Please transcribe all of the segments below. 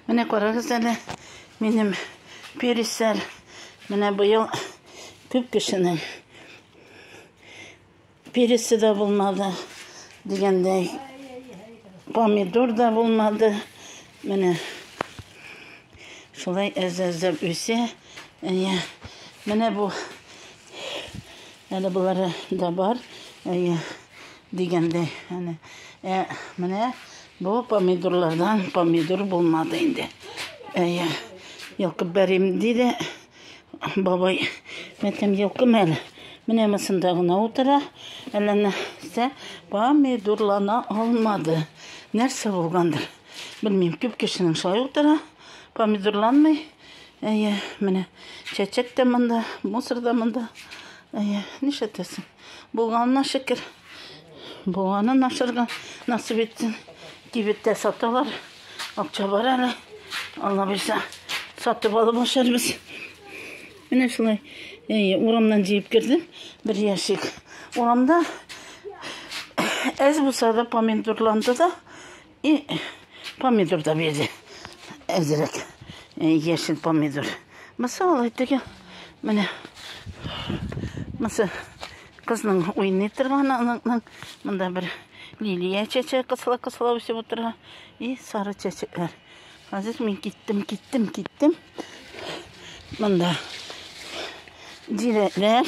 Менә карагыз әле, минем пересель. Менә быел күп кешенең пересе дә булмады, дигәндәй, помидор да булмады. Менә шулай әз-әздәп үсә. Әйе. Менә бу Әле болары да бар, әйе, дигәндәй, әнә. Ә менә бу помидорлардан помидор булмады инде. Әйе, йолкып бәрим, диде бабай. Мәтәм йолкым әле. Менә мысында гына утыра, әллә нәрсә помидорлана алмады. Нәрсә булгандыр? Белмим, күп кешенең шулай утыра, помидорланмый. Әйе, менә чәчәк тә монда, мусор да монда. Әйе, нишләтәсең? Булганына шөкер. Булганын ашырга насыйп итсен. Кибеттә саталар. Акча бар әле. Алла бирсә, сатып алып ашарбыз. Менә шулай. Әйе, урамнан җыеп кердем. Бер ящик. Урамда әз булса да помидорланды да, И помидор да бирде. Әзерәк. Яшел помидор. Мысы алай теге. Менә. Мысы кызның уйный торган аныкның монда бер лилия чәче кысыла кысыла үсеп утыра. И сары чәчекләр. Хәзер мин киттем, киттем, киттем. Монда дирәләр.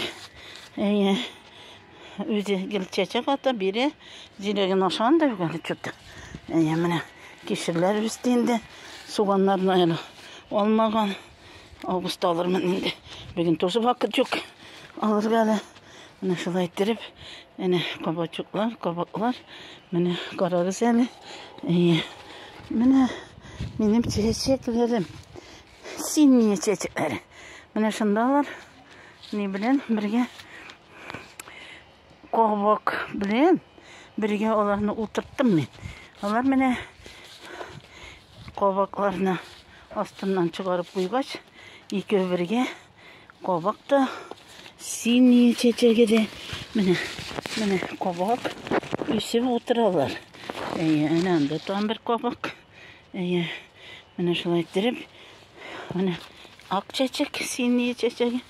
Әйе. Үзе гел чәчәк ата, бире зирәген ашаган да юк әле чөт. Әйе, менә кишерләр үсте инде. Суганнарны әле алмаган. Августта алырмын инде. Бүген тоже вакыт юк. Алырга әле. Менә шулай иттереп, әнә кабачуклар, кабаклар. Менә карагыз әле. Әйе. Менә минем чәчәкләрем. Синие чәчәкләре. Менә шундалар. Ни белән бергә Ковок белән бергә аларны утырттым мин. Алар менә ковакларны астыннан чыгарып куйгач, икәү бергә ковак та синий чәчәге дә менә менә ковак үсеп утыралар. Әйе, әнә анда тагын бер ковак. Әйе, менә шулай иттереп, менә ак чәчәк, синий чәчәге.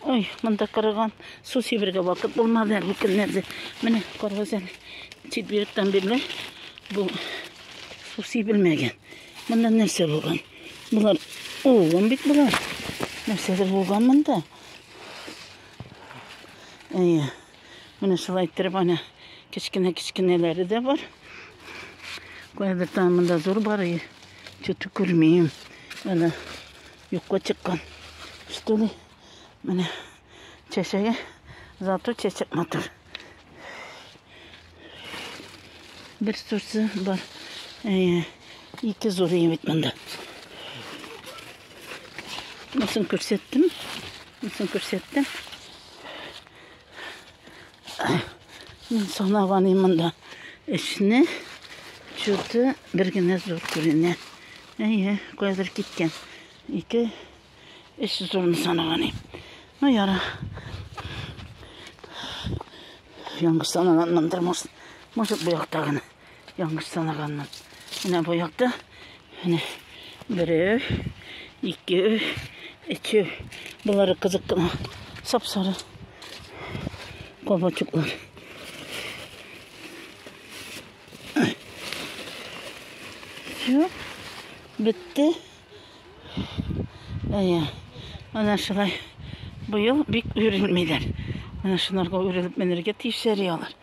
Ой, монда кырыган су сибергә вакыт булмады әле көннәрдә. Менә карагыз әле, четвергтан бирле бу су сибелмәгән. Монда нәрсә булган? Булар угын бит булар. Нәрсәдер булган монда. Әйе. Менә шулай иттереп ана кечкенә-кечкенәләре дә бар. Кайбер тамында зур бар и чөтү күрмим. Менә юкка чыккан. Что ли? Менә чәчәге зато чәчәк матур. Бер сурсы бар. Э, ике зур бит монда. Монысын күрсәттем. Монысын күрсәттем. Мин санаган имында эшне чуты бер генә зур күренә. Әйе, кайдыр киткән. Ике эш зурны санаган ем. Ну, яра. Яңгыр санаганнандыр, может, может, бу яктагыны. Яңгыш санаганмын. Менә бу якта. Менә берәү, икәү, өчәү. Болары кызык кына. Сап-сары кабачуклар. Все. Бетте. Әйе. Ана шулай. Быел бик үрелмиләр. Менә шуларга үрелеп менергә тиешсәри алар.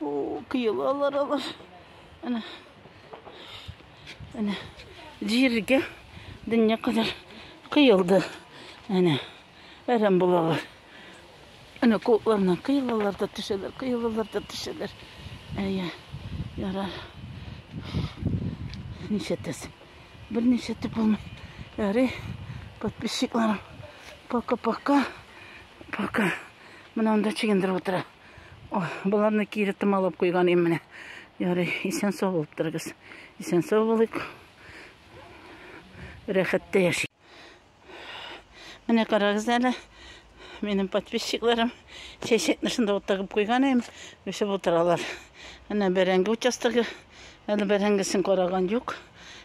О, кыелалар алар. Әнә. Әнә. Җиргә дөнья кадәр кыелды. Әнә. Әрәм булалар. Әнә кулларына кыелалар да төшәләр, кыелалар да төшәләр. Әйе. Ярар. Ничә тәс? Берничә төп булмый. Ярый. Подписчикларым. Пока-пока. Пока. Менә анда чигендереп утыра. Боларны кире томалап куйган ем менә. Ярый, исән сау булып торыгыз. Исән сау булыйк. Рәхәттә яши. Менә карагыз әле. Минем подписчикларым чәчәкне шунда вот тагып куйган ем. Үсеп утыралар. Менә бәрәңге участогы. Әле бәрәңгесен караган юк.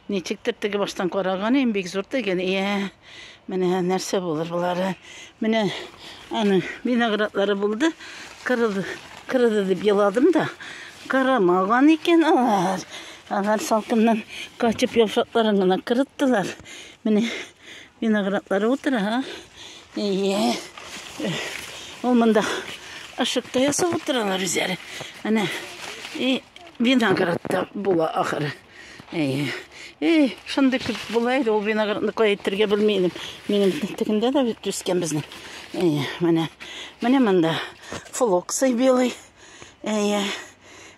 Ничектер теге баштан караганым бик зур түгел. Иә, менә нәрсә булыр болары. Менә аны виноградлары булды. Кырылды, кырылды дип еладым да, кырымаган икән алар. Алар салкыннан качып яфракларын гына кырыттылар. Менә виноградлары утыра. Иә. Ул монда ашыкта ясап утыралар үзләре. Менә и виноградта була ахыры. Әй, әй, шундый күп була иде ул виноградны кая әйтергә белми идем. Минем тегендә дә бит үскән безнең. Әй, менә, менә монда флоксый белый. Әй,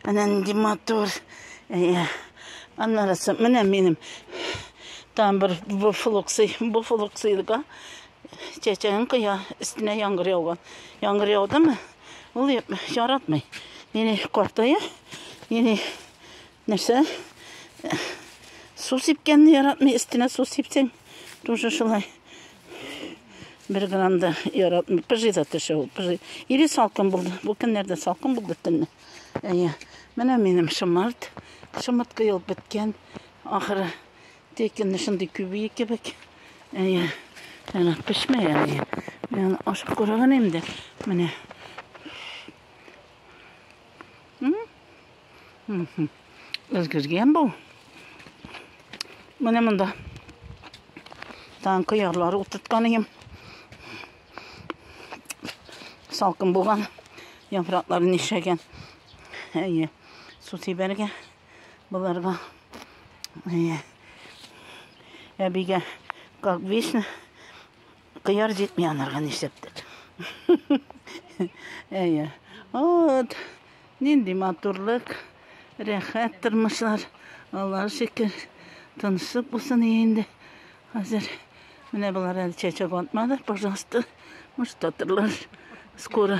менә нинди матур. Әй, аннарысы, менә минем там бер бу флоксый, бу флоксыйга чәчәген кыя, өстенә яңгыр яуган. Яңгыр яудымы, ул яратмый. Нини картая, нини Нәрсә? Су сипкәнне яратмый, өстенә су сипсәң, тоже шулай. Бер грамм да яратмый. Пыжый да төшә ул, пыжый. Или салкын булды. Бу көннәрдә салкын булды төнне. Әйе. Менә минем шымарт. Шымарт кыйылып беткән. Ахыры текенне шундый күбие кебек. Әйе. Әнә пешмәй әле. Мин ашып күргән инде. Менә. Өлгергән бу. Менә монда. Тан кыярлар утырткан идем. Салкын булган. Яфраклары нишәгән. Әйе. Су тибәргә буларга. Әйе. Әбигә как вечно Кыяр җитми анарга нишләптер. Әйе. Вот. Нинди матурлык, рәхәт тормышлар. Аллаһ шөкер. Тынычлык булсын инде. Хәзер менә болар әле чәчәк атмады. Пожалуйста, может, атырлар скоро.